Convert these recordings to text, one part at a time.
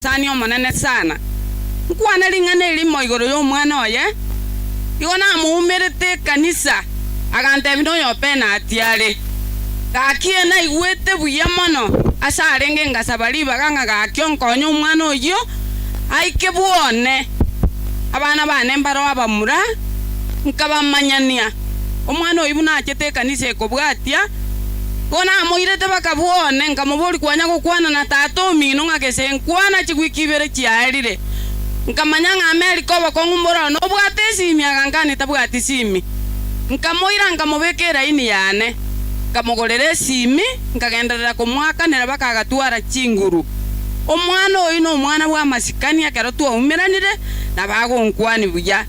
Sani Omonene sana, nkwane ring'ana eri imo igoro y'omwana oye, Igo namoumerete ekanisa, agantebi noyopena ati are, Gaki ee naigwete buya mono ase arenge ngasaba ribaga ng'a gaki onkonye omwana oyio aike bwone. Abana bane mbaroo abamura, nkabamanyania, omwana oyio buna achete ekanisa ekobwatia, Ko namoirete bakabua one, nkamoboria kwanya gokwana na tata omino ng'a gese nkwana chigwiki ibere chiaerire. Nkamanya ng'a Amerika obokong'u mbororo nobwate esimi aganka aane tabwati simi. Nkamoira nkamobeka eraini yane. Nkamogorera esimi, nkagenderera komoakanera baka agatwara chinguru. Omwana oyio nomwana bw'amasikani ekero twaumeranire nabagonkwania buya.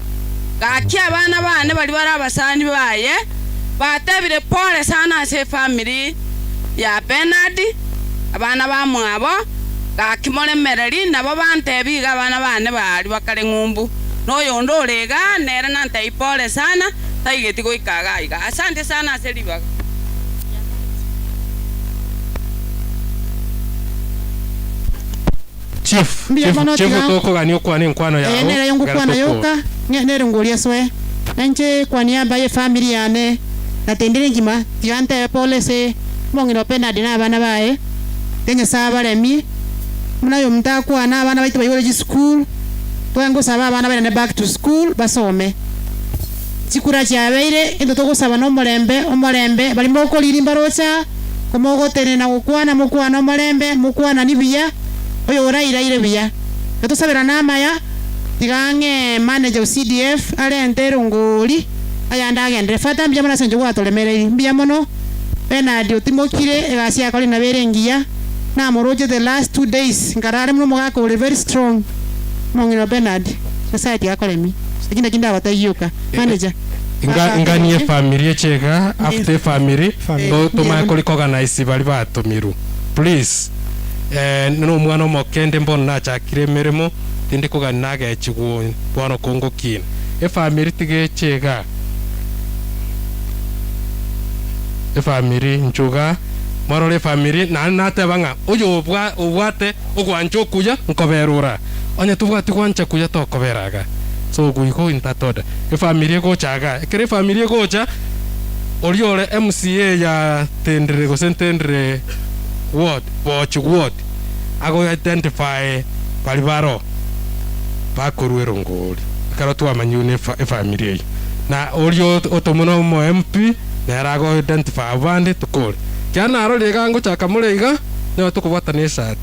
Gaki abana baane baria bare abasani baye, batebire, Pole sana ase efamiri ya Bernard, abana bamwabo gaki moremereri, nabo bantebia iga abana bane baaria bakare ng'umbu, na oyonde ore iga nere nantebia pole sana, taigeti goika iga iga. Asante sana ase ribaga rianchete. Chief, Mbuya chief, mono, chief tiga nko- tokogania okwana enkwano Eye yao nere ayo ekero ngokwana tokwo. yoka, ne- nere ngori asoe. Na inche kwani amba ye family yane, na tindiri ngima, tiga ntebe pole ase omong'ina o Bernard na abana baye, Tiga Nyasae abaremie, buna aye omonto akwana, abana baito baigore chisukuru, Tiga ngosaba abana bairane back to school, basome. chikura chiabeire, gento togosaba nomorembe, omorembe, baria mokoriiri mbaroche aa, komogotenena na gokwana, mokwane omorembe, mokwanani buya, oyo orairaire buya. Igo tosabera namaya, tiga ang'e manager o CDF arente erongori ayande agendere. Fata mbuya mono as'encho gwatoremereiri. Mbuya mono. Bernard otimokire, egasi yakorire nabo ere engiya. Namoroche the last two days, nkarara buna omogaka ore very strong. Omong'ina o Bernard, Nyasaye tiga akoremie. Eki nakio ndabatairie oka, manager. Iga inganie efamiri echega after efamiri to tomanye kori koganise bari batomirwe please eh nere omwana omoke inde mbono nachakire emeremo tindi kogani nagechigwa oyo bono ko ngokina efamiri tiga echega efamiri inche iga morore efamiri naende nateba ng'a oyo obwa obwate ogwancha okuya nkoberora. Onye tobwati gwancha kuya tokobera iga. So ogo igo in that order. Efamiri egocha iga. Ekero efamiri egocha, oria ore MCA ya Ntendere gose Ntendere ward, Boochi ward, ago identify bari baro bakorwa erongori. Ekero twamanya buna efamiri eyio. Na oria otomwa na omo MP, nere ago identify abande tokore. Ekiagera narorire iga ngochaka more iga, nigo tokobwatana esati.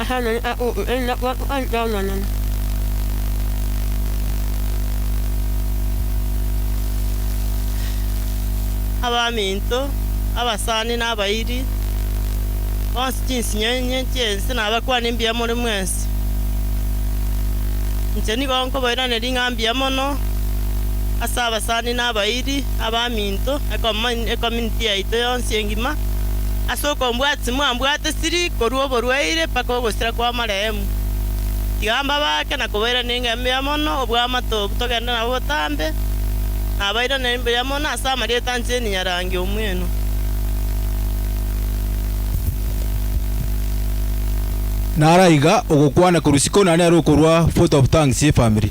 ase amang'ana akoigwa, erinde akwatokanirie amanene. Abaminto, abasani, na abairi, bonsi chinsinyo inye chi'ense, nabakwane mbuya more mwensi. Inche nigo nkobairaneria ring'ana mbuya mono ase abasani na abairi, abaminto, na ecomunity yaito yonsi engima. Ase okombwata timwambwate siri korua oborwaire mpaka ogosira kw'amarehemu. Tiga mbabaake na kobairaneria engencho mbuya mono obw'amato obwo togende nabwo botambe, nabairanerie mbuya mono ase amarieta a Jane nyarangi omw'eno. Naro aiga ogokwana korwa isiko na nere okorua vote of thanks ye family.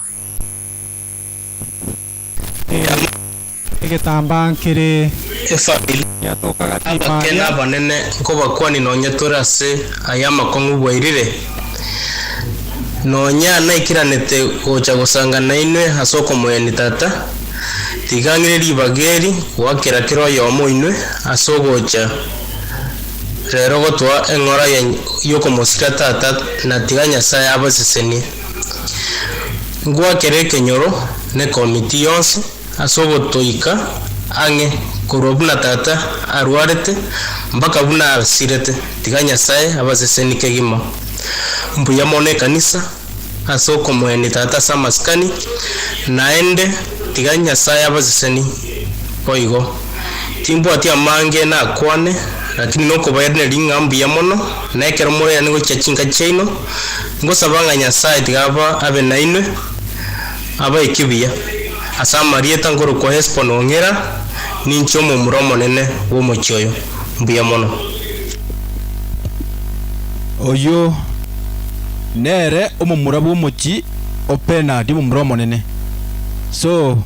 Ekeegwa egetambaa nkere esabili yatoka gati Abakene baria. abanene nkobakwani nonya tore ase aya amakong'u bwairire, nonya naikeranete gocha gosanga nainwe ase okomoyani Tata, tiga ng'ire ribaga eri goakera kera oyomo oinwe ase ogocha rero gotoa eng'ora y'okomosika Tata, na tiga Nyasae abasesenie. Ngoakere ekenyoro na ekomiti yonsi ase ogotoika ang'e korwa buna tata arwarete mpaka buna asirete, tiga Nyasae abaseseni kegima. Mbuya mono ekanisa ase okomoenia tata ase amasikani, naende tiga Nyasae abaseseni boigo. Timbwati amange nakwane, rakini nokobairaneria ng'a mbuya mono, na ekero morairane gochia chinka chiaino, Ngosaba ng'a Nyasae tiga aba abe nainwe, abae ekibuya. Ase amarieta nkorokwa Hesbon ong'ira, ninche omomura omonene bw'omochie oyo. Mbuya mono. Oyio nere omomura bw'omochie o Bernard omomura omonene. So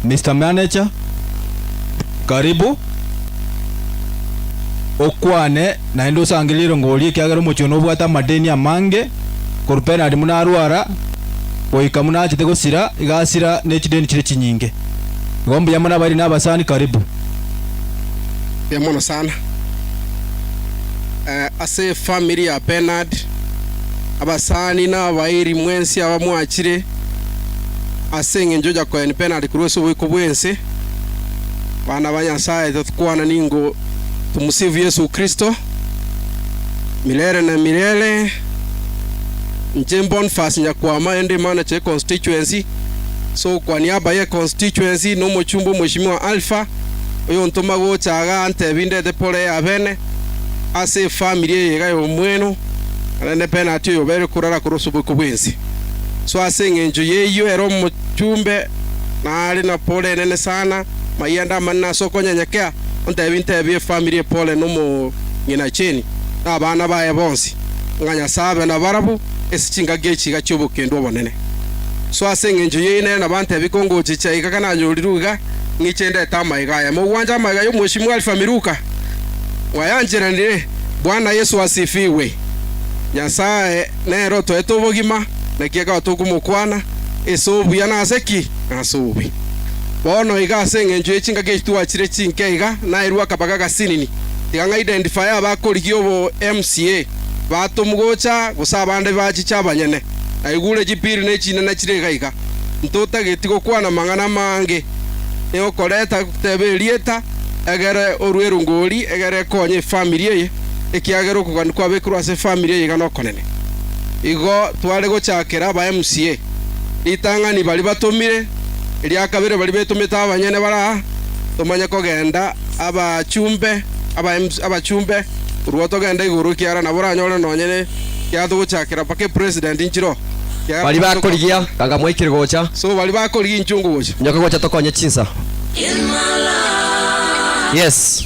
Mister Manager, karibu okwane. Naende osangererie rongori, ekiagera omochie one obwate amadeni amange, korwa penari buna arwara, goika buna achete gosira, iga asira ne chideni chire chinyinge. Igo mbuya mono abairi na abasani karibu. Mbuya mono sana. Eh, ase efamiri ya Bernard, abasani na abairi mwensi aba mwachire, ase engencho ya koeni Bernard korwa ase oboiko bw'ense. Bana ba Nyasaye, totokwana ningo Tomusifu Yeso Kristo, mirere na mirere. Inche Bonfas nyakwama ende Imana che Constituency, ase ogokwania abaye eConstituency, na omochumba omweshimiwa Alpha, oyontoma gocha aaga antebi ndete poro eye abene, ase efamiri eye iga y'omweno, naende nepenati oyobere korara korwa ase oboiko bw'ense. So ase engencho y'eyio ere omochumbe nare na poro enene sana, Mayende amanene ase okonyenyekea, ontebi ntebi efamiri epore nomong'ina Jane, na abana baye bonsi, ng'a Nyasae abe nabarabwo ase chingaki echi iga chi'obokendu obonene. Soa ase engencho ye inee nabantebi kongoche chiaye iga kananyorirwe iga, ng'iche ndete amaiga aya. Mogwanche amaiga y'omweshimiwa Alfa Miluka, mwayancheranire. Bwana Yesu asifigwe. Nyasae nere otoete obogima, naki ekaba tokomokwana ase obuya na ase ki? Na ase obobe. Bono iga ase engencho ye chingaki echi twachire chinke iga, nairwe akabaga agasinini. Iga ng'a identifier abakorigia obo MCA, batomu gocha, gose abande bachiche abanyene. Naigure chipiri ne chinena chire iga iga. Ntotageti gokwana amang'ana amange. Nigo okoreta goteba erieta, egere orue erongori, egere ekonye efamiri eye, ekiagera okogania kwabekirwe ase efamiri eye iga nokonene. Igo tware gochakera aba MCA. ritang'ani baria batomire, eria kabere baria betomete abanyene bare aa, tomanye kogenda abachumbe, aba MC, abachumbe, korwa togenda igoro ekiagera nabo oranyore nonye ne kiagera togochakera mpaka epresident nchiroo, ekiagera Baria nabo bakorigia tokobwate. ganga mwaikire gocha, So baria bakorigia inchwe ngogocha. inyoke gocha tokonye chinsa. Yes.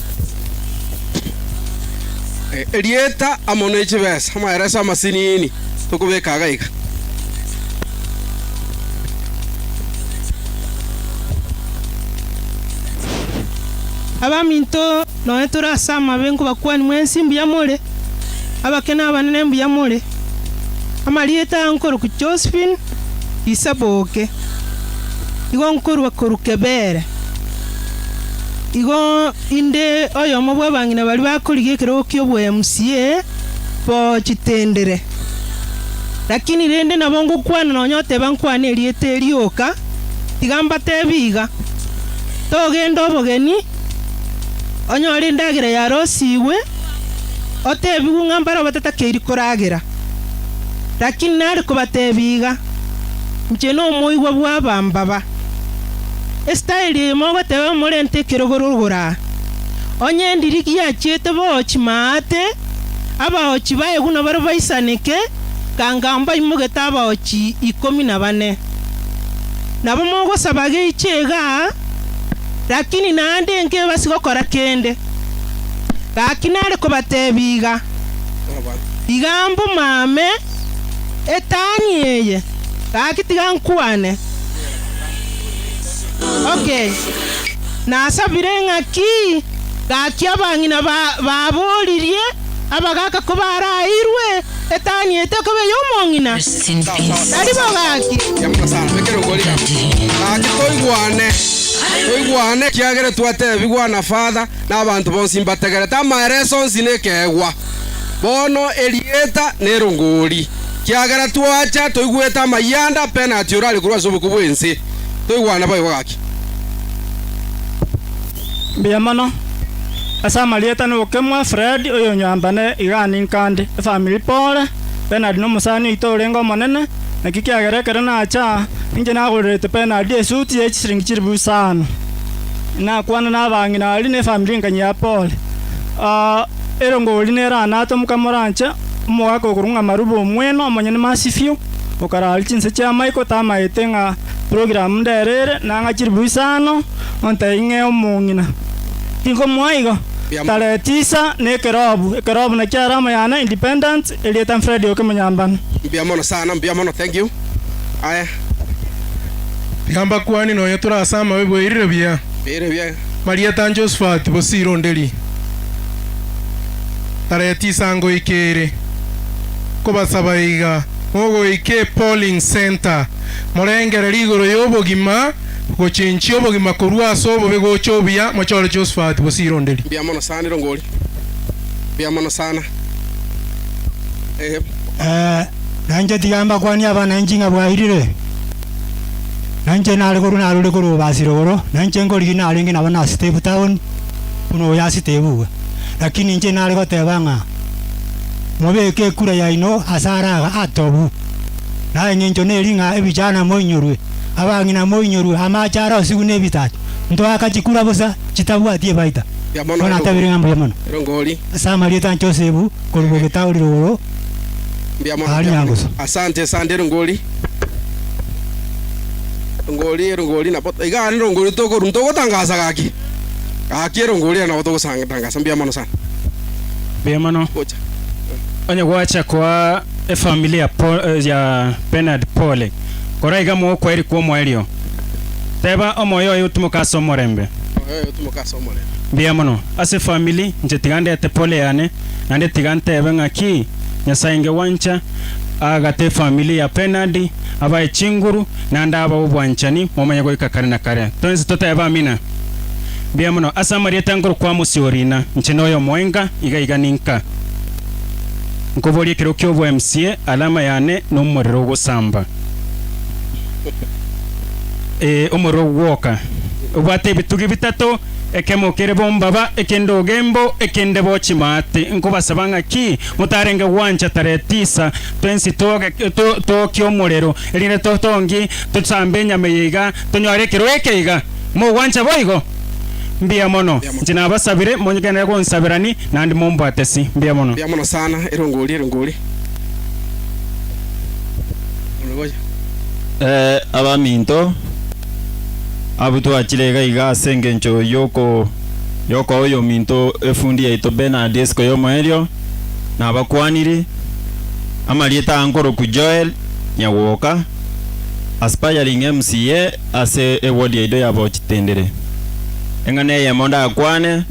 Erieta amo ne chibesa, amahereso amasinini tokobeka iga iga. Abaminto, nonya tore ase amabe nkobakuani mwensi mbuya more, abake na abanene mbuya more. Amarieta aya nkorokwa Josephine Isaboke, igo nkorua korwa Kebere. Igo inde oyomo bw'abang'ina baria bakorigia ekerogo ki'oboyia MCA bo chitendere. Lakini rende nabo ngokwana nonya oteba nkwane erieta erio oka, tiga mbatebie iga, togenda obogeni, onyore endagera yarosigwe, otebigwe ng'a mbarabwo batatakeiri koragera. Lakini nare kobatebia iga, inche nomoigwa bw'abambaba. Esitaeli eye mogoteba emorente ekerogorogoro aa, onye endiri giachiete boochi maate, abaochi baye buna bare baisaneke, ganga mbaimogete abaochi ikomi na bane. Nabo mogosaba geiche iga, rakini naende nkebasi gokora kende. Gaki nare kobatebia iga, Iga mbumame etani eye, gaki tiga nkwane. Okay. Nasabire ng'a ki? Gaki abang'ina ba, baboririe, abagaka ko baraeirwe etani ete koba ey'omong'ina. Rest in peace. Tari bo gaki. Gaki toigwane toigwane ekiagera twatebigwa na father na abanto bonsi mbategerete amaereso onsi nekeegwa bono erieta nerongori Kiagera twacha toigwete amayia ande a penati ore are korwa ase oboku bw'ense, toigwana boigo gaki. Mbuya mono. Ase amarieta nokemwa Fred oyonywanto nde igani nkande efamiri pore Bernard nomosani oito orenge omonene naki kiagera ekero nacha ninche nagorerete Bernard esuti ye chisiringi chilifu isano inakwana nabang'ina aria ne efamiri engenye ya pore. Aa erongori nera anate omokama oranche. Omogaaka okorung'ama robe omwene omonyene Masivio okaraaria chinse chia Michael tamaete ng'a program ndere ere nang'a chiribui isano ontebie ng'ee omong'ina tinkomoa igo tarehe tisa na ekerobu ekerobu nakio alama yane independence erieta Fred Okemonyambano. Mbuya mono sana mbuya mono thank you aya. Riamba kwani nonya tore ase amabe bweirire buya. Bweirire buya. Marieta Josphat Bosiro Nderi. tareti saa ngoika ere. Nkobasaba iga, mogoika ePolling Centre, morengerere igoro y'obogima, gochenchia obogima korwa ase obobe gocha obuya, mochore Josephat Bosironderi. Mbuya mono sana nigo ngori. Mbuya mono sana. Eeh. Eeh, na inche tiga mbakwanie abananchi ng'a bwairire, na inche nare korwa narure korwa Obasiro igoro, na inche nkorigia narenge nabo nase Step Town, buna oyoasitebigwe, lakini inche nare goteba ng'a, Mobeke ekura yaino ase araga atobu, na engencho neri ng'a ebichana moinyorwe, abang'ina moinyorwe, amaache arosigwe nebitacho, ntoaka chikura bosa chitabwati ebaita. Bono natabire ng'a mbuya mono ase amarieta a Josefu korwa bogeta orire igoro aa rinyangusu. Gaki erongo oria nabo togosatangasa mbuya mono sana. Mbuya mono. Gocha. Onye gwacha koa efamili ya Paul, ya Bernard pole, kora iga mogokwaeria kwa omoerio, Teba, Omoyo oye otimoke ase omorembe. Omoyo oye otimoke ase omorembe. Mbuya mono. Ase efamili, inche tiga ndete pole yane, naende tiga ntebe ng'aki, Nyasae inge gwancha, aagate efamili ya Bernard, abae chinguru, na ndaaba obwanchani momanye goika kare na kare. Twensi toteebe Amina. Mbuya mono. Ase amarieta ngorokwa Amosi o Riina, inche noyo omoenga, iga iga ninka nkoboria ekero ki'obo MCA, alama yane nomorero ogosamba. Ee, omorero ogwoka. Obwate ebitugi bitato, ekemo kere bombaba, ekende ogembo, ekende bo chimaate. Nkobasaba ng'aki, motarenge gwancha tarehe tisa, twensi tooke omorero. erinde totongi tosambe enyama eye iga tonyore ekeroo eke iga mogwancha boigo? Mbuya mono. Inche nabasabire, monyegenere gonsabera ni, naende mombwate si. Mbuya mono. Mbuya mono sana. Ere ongoria, ere ongoria. Omogoia. Ee, abaminto, abwo twachire iga iga ase engencho y'oko y'okoa oy'ominto efundi yaito Bernard esiko y'omoerio, nabakwaniri, amarieta aa nkorokwu Joel, manya gwoka, aspiring MCA ase eward yaito ya Bochitindiri. Eng'ana eyemo ndakwane,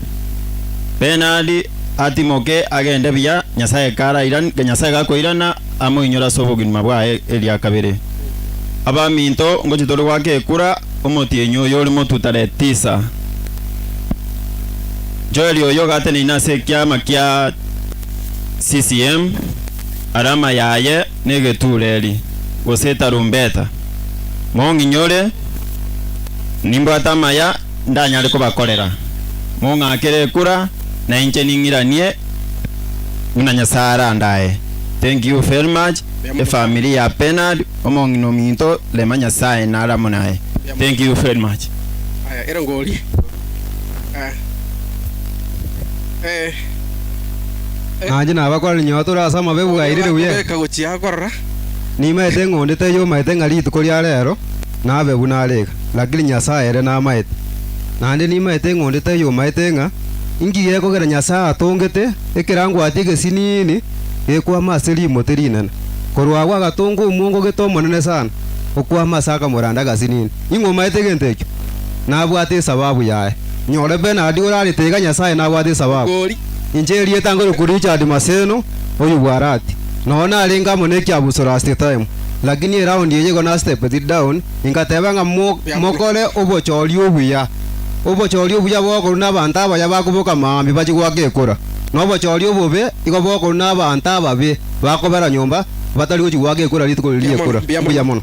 Bernard atimoke agende buya, Nyasaye karairan, Nyasaye gakoirana amoinyore ase obogima bwaye eria kabere. Abaminto ngochi tore goaka ekura, omotienyi oyo ore motuta Letisa. Joel oyo gateneine ase ekiama kia CCM, alama yaye. negetuureri, gose etarumbeta, mong'inyore, nimbwate amaya ndanyare kobakorera, mong'akere ekura, na inche ning'iranie buna Nyasae arandae. Thank you very much the family ya Bernard omong'ina ominto rema Nyasae naramo naye thank you very much. Aya erongo orie. Nainche nabakorera inyoa tore ase amabe bwairi Nabwate ribuya. beka gochia akorora. Nimaete eng'ondi teyomaete ng'a rituko ria reero nabe buna are iga, lakini Nyasae ere namaete. Naende nimaete eng'ondi teyomaete ng'a inki gekogera Nyasae atongete ekerangwatie egesiniini gekwama ase rimoti rinene. Korwa agwo agatonga omwongo gete omonene sana, okwama ase akamoranda agasiniini. Ing'omaete egento ekio? Nabwate esababu yaye. Nyore Bernard orarete iga Nyasaye nabwate esababu. Inche erieta ngorokwa Richard Maseno, oyio bwarati. Nao narenge amo ne ekiabusuro last time, lakini eround eye igo na stepped down, ingateba ng'a mokore obochori obuya. Obochori obuya bokorwa na abanto abaya bakoboka maambia bachie goaka ekura. Na obochori obobe igo bokorwa na abanto ababe bakobera nyomba batari gochia goaka ekura rituko riria ri'ekura. Mbuya mono.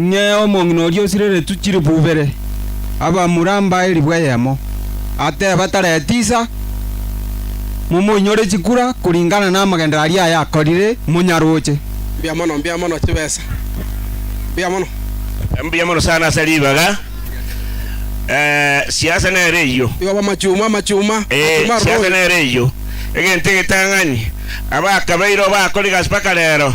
ng'e omong'ina oria osireretwe chilifu ibere, abamure amba elifu eyemo, ateba tara etisa, momoinyore chikura koringana namagenderero aria aye akorire, monyaroche. Mbuya mono, mbuya mono chibesa, mbuya mono. Mbuya mono sana ase ribaga, eh, siasa nere eyio. Igo bamachuma, amachuma, Eh, amachuma siasa aroro oyo. nere eyio. Egento egetang'ani, abakabeire obakorigasi mpaka rero,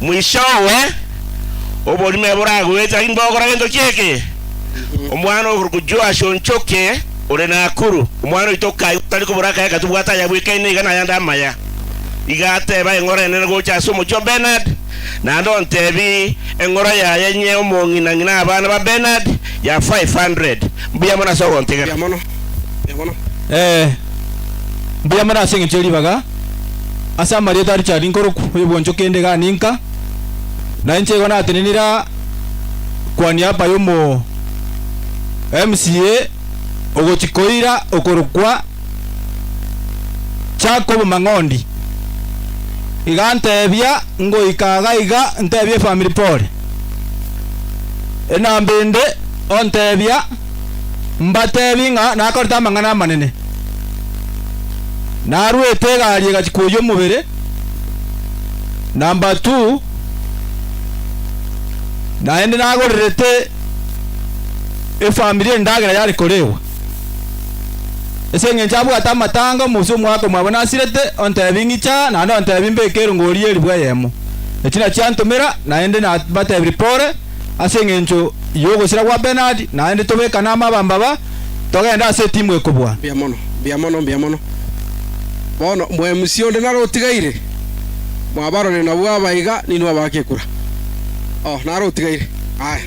Mwisoowe, oborimo ebe boragwete aginde bagokora gento ki'eke. Omwana okorokwa Joash o Nchoke, ore Nakuru, omwana oito o Kayo, tari kobora akaye gatobwate ayabwekaine iga nayande amaya. Iga ateba eng'ora enene gocha ase omochie o Bernard, naende ontebi eng'ora yaye inye omong'ina ng'ina abana ba Bernard ya 500. Mbuya mono ase ogontegera. Mbuya mono ase engencho ye ribaga. ase amarieta a Richard Nkoruku, oyobwanchwa kende iga ninka, na inche igo natenenire aa kwa niaba y'omo MCA ogochi koira okorokwa Jacob Mang'ondi, iga ntebia ngoika iga iga ntebie efamiri pole, enamba ende ontebia mbatebi ng'a nakorete amang'ana amanene. Narwete egari egachia koyia omobere, number two, naende nagorerete efamiri endagera yare korewa. Ase eng'encho abwate amatanga omosia omwaka omwabo nasirete ontebi ng'icha aa naende ontebi mbeke erongori eribwa eyemo. Echi nachio antomera naende nabatebiri pole. ase engencho y'ogosira gwa Bernard, naende tobekane amo abambe aba, togende ase etimu ekobua. Mbuya mono, mbuya mono, mbuya mono. Bono omwemusi onde nare otigaire? Mwabarorire nabwo aba iga, ninwe abaake ekura. Oh, nare otigaire. Aya,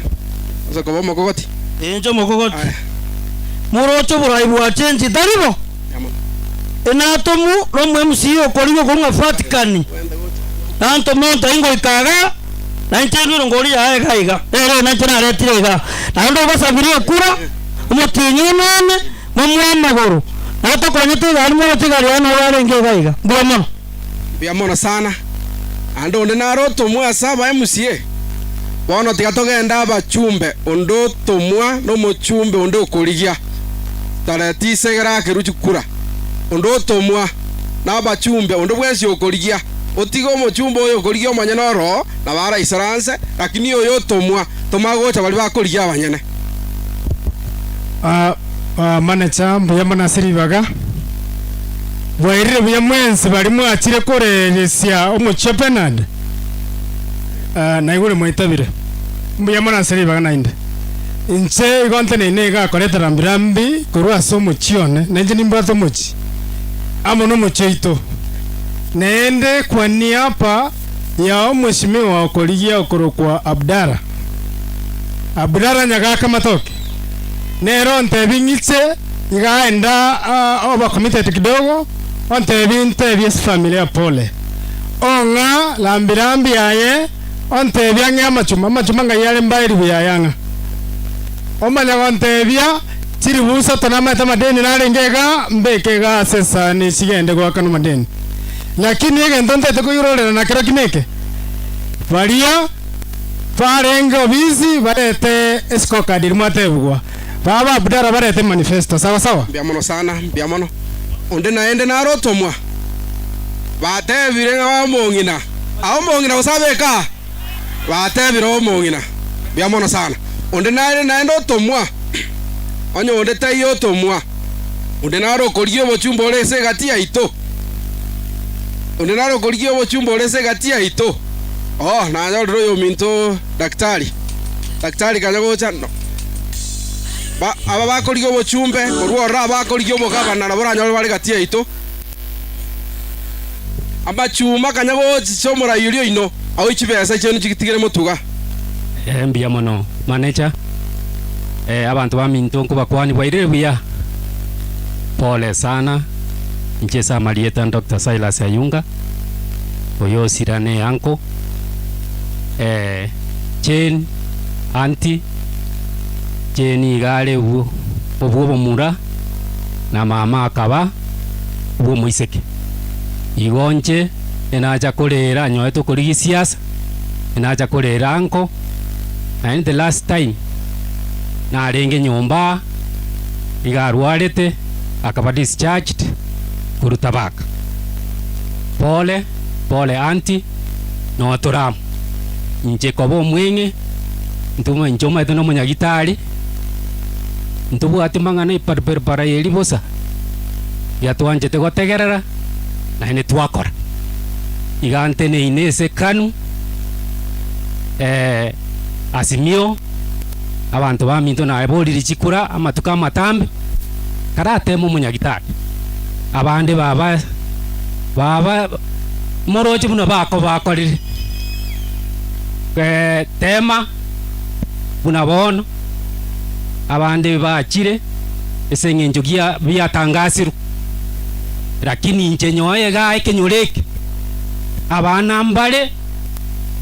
ase koba omokogoti. Inche omokogoti. Aya. Moroche oborai bwa chensi tari bo? Mbuya mono. Inatomwe nomwemusi okorigwe korwa Vatikani, nantome onto ingoika iga. na inche enwire ngoria yaye iga iga, eree na inche naretire iga, naende obasabirie ekura, omotienyi onene, momoe amagoro, na tokonyete iga aria moroche igari yaye nabo arenge iga iga. Mbuya mono. Mbuya mono sana. Naende onde nare otomwa ase abaye Musie? Bono tiga togende abachumbe, onde otomwa na omochumbe onde okorigia. Tareti isegere akeru chikura. Onde otomwa. na abachumbe, onde bwensi okorigia, otiga omochumbe oyo okorigia omonyene oroo, nabo araisore anse, lakini oyo otomwa, toma agocha baria bakorigia abanyene. Ah, ah, manecha mbuya mono ase ribaga. Bwairire buya mwensi baria mwachire koreresia omochie Bernard. Ah, naigure mwaitabire. Mbuya mono ase ribaga naende. Inche igo nteneine iga akoreta rambi rambi korwa ase omochie one, na inche nimbwate omochie. amo nomochie oito, neende kwania apa yao omosimiwa okorigia okorokwa Abdara. Abdara nyagaaka amatoke, nere ontebie ng'iche iga enda oba committed kidogo, ontebie intebie esifamilia pole, ong'a rambi rambi aye, ontebie ang'e amachuma, amachuma ng'ai are mbae ribuya aye ang'a, omanya gontebia. Chiri busa tonamaete amadeni narenge iga, mbeke iga ase esani chigende goaka nomadeni. Lakini egento ntaete koirorera nakero ki neke, baria barenge obisi barete escorecard eri mwatebigwa, baba ba Abdalla barete emanifesto, sawa sawa? Mbuya mono sana, mbuya mono. Onde naende naro otomwa. Batebire ng'a omong'ina. Aomong'ina gose abeka? Batebire omong'ina, Mbuya mono sana, onde nare naende otomwa, onye onde taiyo otomwa, onde nare okorigia obochumba ore ase egati yaito, onde nare okorigia obochumba ore ase egati yaito. Oo, nanyorire oyominto daktari. Daktari kanya gocha, no- ba- aba bakorigia obochumbe, korwa ororo aba akorigia obogabana nabo oranyore bare egati yaito. Amachuma kanya gochicha omoraiyori oino, aoi chibesa chiaino chigitigere motuga. Ee, mbuya mono, manecha. Ee, abanto baminto nkobakwania bwairire buya. Pole sana. Inche ase amarieta Doctor Silas Ayunga, oyo osira ne uncle. Ee, Jane, auntie, Jane iga are obwo obomura, na mama akaba. bw'omoiseke. Igo nche enacha korera anyorete okori gisiasa, enacha korera anko, naende the last time narenge nyomba aa nigo arwarete akaba discharged korwa Thabaka. Pole pole aunty notora amo. Inche koba omweng'e, intwe inche omanyete nomonyagitari. Ntobwati mang'ana iparpirpara y'eri bosa, eria twanchete gotegerera, naende twakora. Iga nteneine ase Kanu, eh, Asimio, abanto baminto naeboririe chikura amatuko amatambe, tarateme omonyagitari. Abande baba baba moroche buna bakobakorire, eh, tema. buna bono abande bachire ase engencho gia biatangasirwe, lakini inche nyoe igaa ekenyoro eke, abana mbare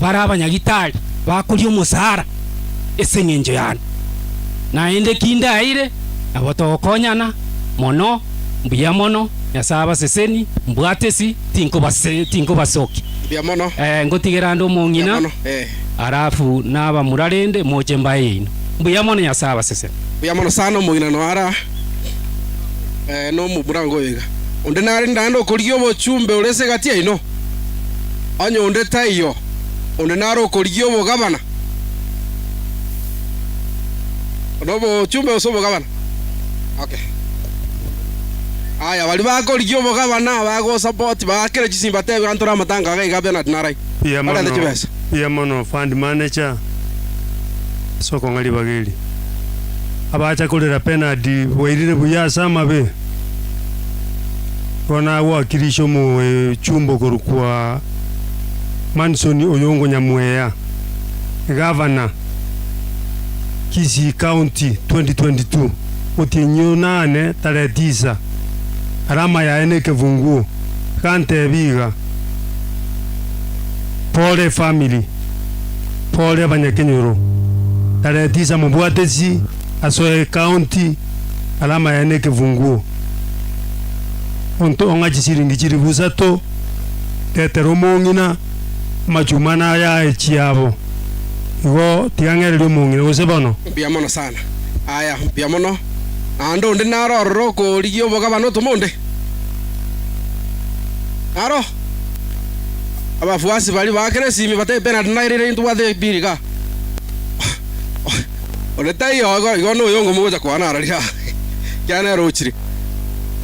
bare abanyagitari bakoria omosara ase engencho yane, naende kindaire nabo togokonyana mono, mbuya mono Nyasae abaseseni, mbwatesi tinkobase tinkobasokia. Mbuya mono. Ee, ngotigera ande omong'ina. Mbuya mono, ee. Alafu naba murarende moche mbaye yaino. Mbuya mono Nyasae abasesene. Mbuya mono sana omogina noyo ara nomo bwango oyo iga. Onde narende naende okorigia obochumbe ore ase egati yaino? Onye onde taiyo, onde nare okorigia obogabana nobochumbe gose obogabana? Okay. Aya, baria bakorigia obogabana, bagosapoti, baakere chisimba tebia ntore amatango aga iga Bernard narai. Mbuya Bagata mono, chibesa. mbuya mono fund manager ase okong'a ribaga eri. Abacha korera penalty bwairire buya ase amabe. Igo nagwakirisha omochumba okorwa kwa Manson Oyongo Nyamweya, Egovernor Kisii County 2022. Otienyi oyio nane tarehe tisa, alama yaye nekefunguo. Agantebi iga. Pole family, pole abanyakenyoro, tarehe tisa mobwate chi asoe county alama yaye ne ekefunguo onto ong'a chisiringi chilifu isato tetera omong'ina amachuma nayaye chiabo igo tigang'ereria omong'ina gose bono. Mbuya mono sana. Aya, mbuya mono. Naende onde naro ororo okorigia obogabane otomo onde? Aro abafuasi baria ba Kresimi batebe, Bernard nairire intobwate pi riga. Onde taiyo igo, igo noyongo mogocha kwana ara riga, ekiagera nere ochire.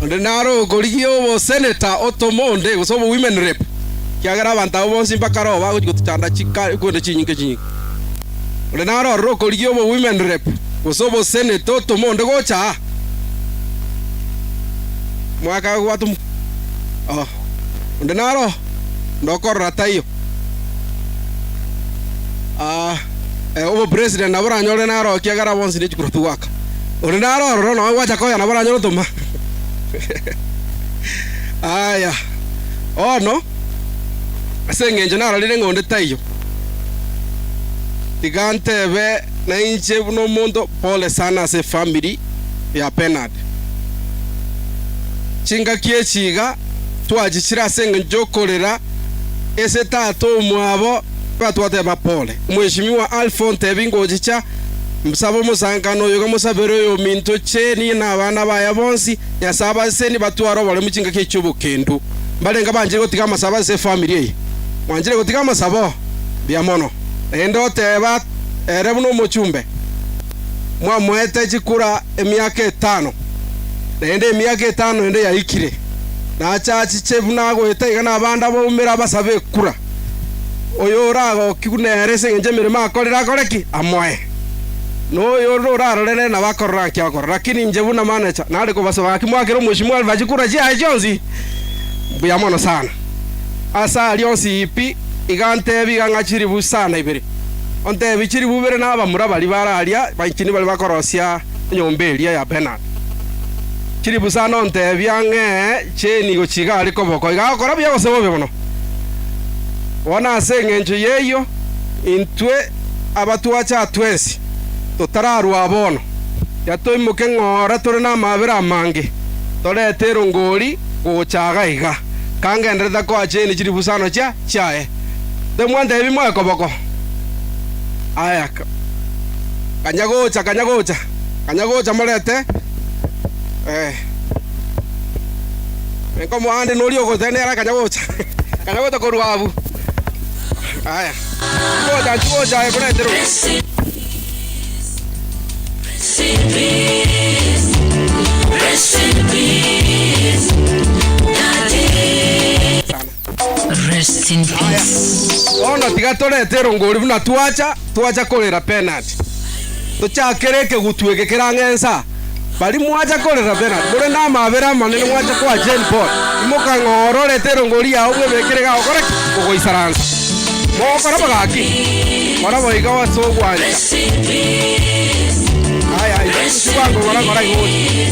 Onde naro okorigia oboseneta otome onde, gose obowomen rep, ekiagera abanto abwo bonsi mbakareo bagochia gotochanda chika- ekwende chinyinke chinyinke. Onde naro ororo okorigia obowomen rep, gose oboseneta otome onde gocha aa. Mwakagwata omo... Oh, onde naro ndokorora taiyo. Ah, eh, obopresident nabo oranyorire naro ekiagera bonsi nechikura togwaka. Onde naro ororo nao gwacha koya nabo oranyore otoma. Aya, bono ase eng'encho narorire ng'a onde taiyo, tiga ntebe Na inche buna omonto, pole sana ase efamiri ya Bernard. Chingaki echi iga twachichire ase engencho y'okorera ase tata omwabo, iga twateba pole. Mweshimiwa Alpho, ntebi ngochicha mbosabe omosankano oyo iga mosabere oyominto Jane na abana baye bonsi, Nyasae abasesenie batware oboremu chingaki echi chi'obokendu. Mbarenge banchire gotiga amasabo ase efamiri eye. Mwanchire gotiga amasabo? Mbuya mono. Naende oteba ere buna omochumbe, mwamoete chikura emiaka etano, naende emiaka etano ende yaikire, nache achiche buna agoeta iga nabande abaumera abasabe ekura. Oyo oragokigwe nere ase engencho y'emeremo akorire akore ki? Amoe. Na oyo onde orarore nere nabo akorore gaki akore. Lakini inche buna manecha, nare kobasoa gaki moakere omochie mwaruba chikura chiaye chionsi mbuya mono sana. Ase aria onsi pi iga ntebi iga ng'a chilifu sana ibere. onteebie chilifu ibere na abamura baria bare aria baichini baria bakorosia enyomba eria ya Bernard. Chilifu sana onteebie ang'e chi'enigo chigare koboko iga agokora buya gose bobe mono. Bono ase engencho y'eyio intwe abatwacha twensi totararwa bono, tiga toimoke ng'ora tore namabera amange, torete erongori gocha iga iga, kangenderete koacha eeni chilifu sana chia chiaye. Temwantebi moe koboko. Aya, kanya gocha, kanya gocha, kanya gocha morete eh, nkomoande noria ogotee nere akanya gocha, kanya gocha korwa abwo. Aya, tigocha, tigocha aye morete rogoro. Sana. Rest in Aya, peace. bono tiga torete erongo ori buna twacha twacha korera penati. Tochakere ekegutu eke kerang'e ensa. Baria mwacha korera penati, more namabera amanene mwacha koa Jane Paul. Imoka ng'o ororete erongo riao bwebekere iga ogokora ki? Ogoisaransa. Mogokora bo gaki, kora boiga ase ogwancha. Aya, aya, ase bwango kora kora iga oche.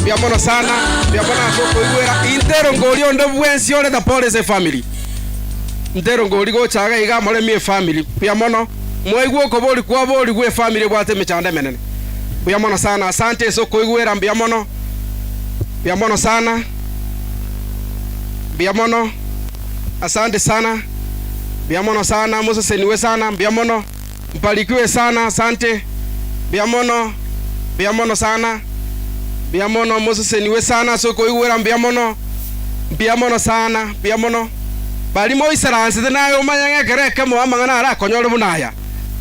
Mbuya mono sana, mbuya mono ase okoigwera. Intero ngoria onde bwensi ore na Paul ase efamily. Intero ngori gocha iga iga moremi efamily. Mbuya mono. Mwaigwa okobori kwaborigwe efamily ebwate emechando emenene. Mbuya mono sana. Asante ase okoigwera. Mbuya mono. Mbuya mono sana. Mbuya mono. Asante sana. Mbuya mono sana. Moseseniwe sana. Mbuya mono. Mbarikiwe sana asante. Mbuya mono, mbuya mono sana. Mbuya mono moseseniwe sana ase okoigwera mbuya mono. Mbuya mono sana, mbuya mono. Bari moisaransete naye omanye ng'a ekero ekemo amang'ana arakonyore buna aya.